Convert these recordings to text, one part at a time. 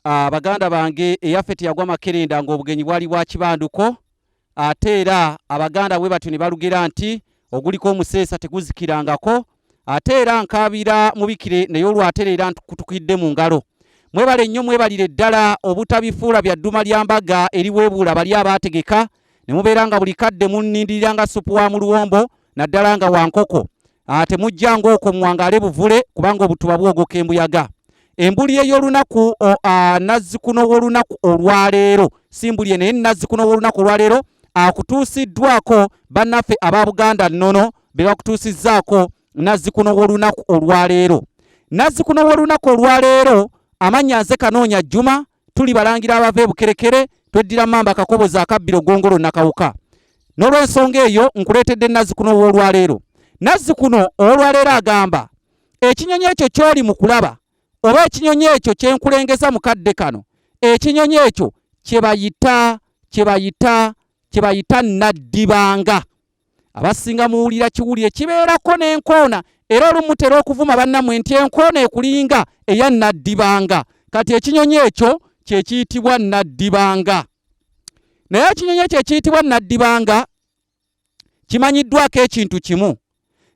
ah, baganda bange eyaffe teyagwa makerenda ng'obugenyi bwali bwa kibanduko ate era abaganda bwe batyo ne balugera nti oguliko omuseesa teguzikirangako ate era nkaabira mubikire naye olwatera era nkutukidde mu ngalo mwebale nnyo mwebalire ddala obutabifuula bya dduma lya mbaga eriweebuula bali abaategeka ne mubeera nga buli kadde munnindirira nga supu wa mu luwombo naddala nga wankoko ah, temujja ngaokwo muwangaale buvule kubanga obutuba bwogoka embuyaga embuli ey'olunaku ah, nazzikuno w'olunaku olwaleero si mbuli naye nazzikuno w'olunaku olwaleero akutuusiddwako bannaffe aba buganda nnono be bakutuusizzaako nazzikuno w'olunaku olwaleero nazzikuno w'olunaku olwaleero amannya nze kanoonya jjuma tuli balangira abava ebukerekere tweddira mamba kakoboza akabbiro gongolo nakawuka n'olwensonga eyo nkuleetedde nazzikuno ow'olwaleero nazzikuno ow'olwaleero agamba ekinyonyi ekyo ky'oli mu kulaba oba ekinyonyi ekyo kye nkulengeza mu kadde kano ekinyonyi ekyo kye bayita kye bayita kye bayita naddibanga abasinga muwulira kiwuli ekibeerako n'enkoona era olumu tera okuvuma bannamwe nti enkoona ekulinga eya nnaddibanga kati ekinyonyi ekyo kye kiyitibwa nnaddibanga naye ekinyonyi ekyo ekiyitibwa nnaddibanga kimanyiddwako ekintu kimu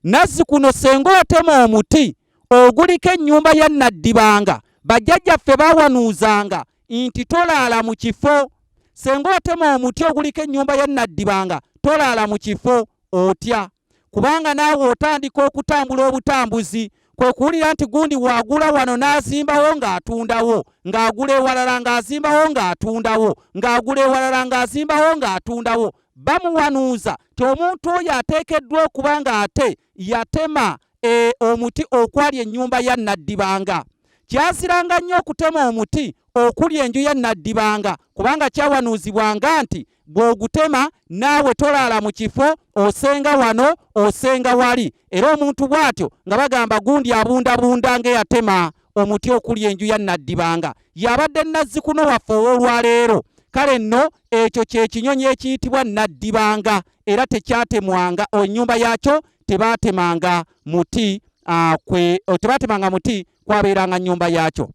nazzi kuno senga otema omuti oguliko ennyumba ya nnaddibanga bajjajjaffe bawanuuzanga nti tolaala mu kifo senga otema omuti oguliko ennyumba ya naddibanga tolaala mu kifo otya kubanga naawe otandika okutambula obutambuzi kwe kuwulira nti gundi wagula wano n'azimbawo ng'atundawo ng'agula ewalala ng'azimbawo ng'atundawo ng'agula ewalala ng'azimbawo ng'atundawo bamuwanuuza ti omuntu oyo ateekeddwa okuba ng'ate yatema e, omuti okwali ennyumba ya naddibanga Kyaziranga nnyo okutema omuti okuli enju ya Naddibanga kubanga kyawanuuzibwanga nti bw'ogutema naawe tolaala mu kifo osenga wano osenga wali era omuntu bw'atyo nga bagamba gundi abundabunda ng'eyatema omuti okuli enju ya Naddibanga yabadde nazzikuno waffe ow'olwaleero kale nno ekyo kye kinyonyi ekiyitibwa Naddibanga era tekyatemwanga ennyumba yaakyo tebaatemanga muti ah, kwe oh, tebaatemanga muti kwabeeranga nnyumba yaakyo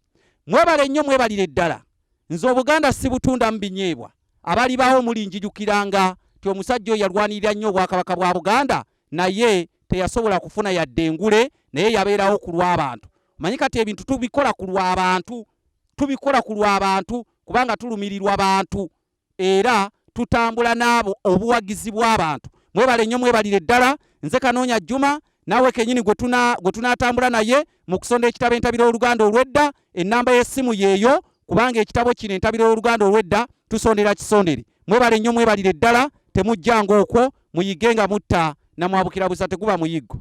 mwebale nnyo mwebalire ddala nze obuganda sibutundamu binyeebwa abali bawo muli njijukiranga ti omusajja oyo yalwanirira nnyo obwakabaka bwa buganda naye teyasobola kufuna yadde engule naye yabeerawo ku lw'abantu manyi kati ebintu tubikola ku lw'abantu tubikola ku lw'abantu kubanga tulumirirwa bantu era tutambula n'abo obuwagizi bw'abantu mwebale nnyo mwebalire ddala nze kanoonya juma naawe kenyini gwe tunaatambula naye mu kusonda ekitabo entabiro y'oluganda olw'edda ennamba y'essimu yeeyo kubanga ekitabo kino entabiro y'oluganda olw'edda tusondera kisondere mwebale nnyo mwebalire ddala temujjanga okwo muyige nga mutta namwabukira busa teguba muyiggo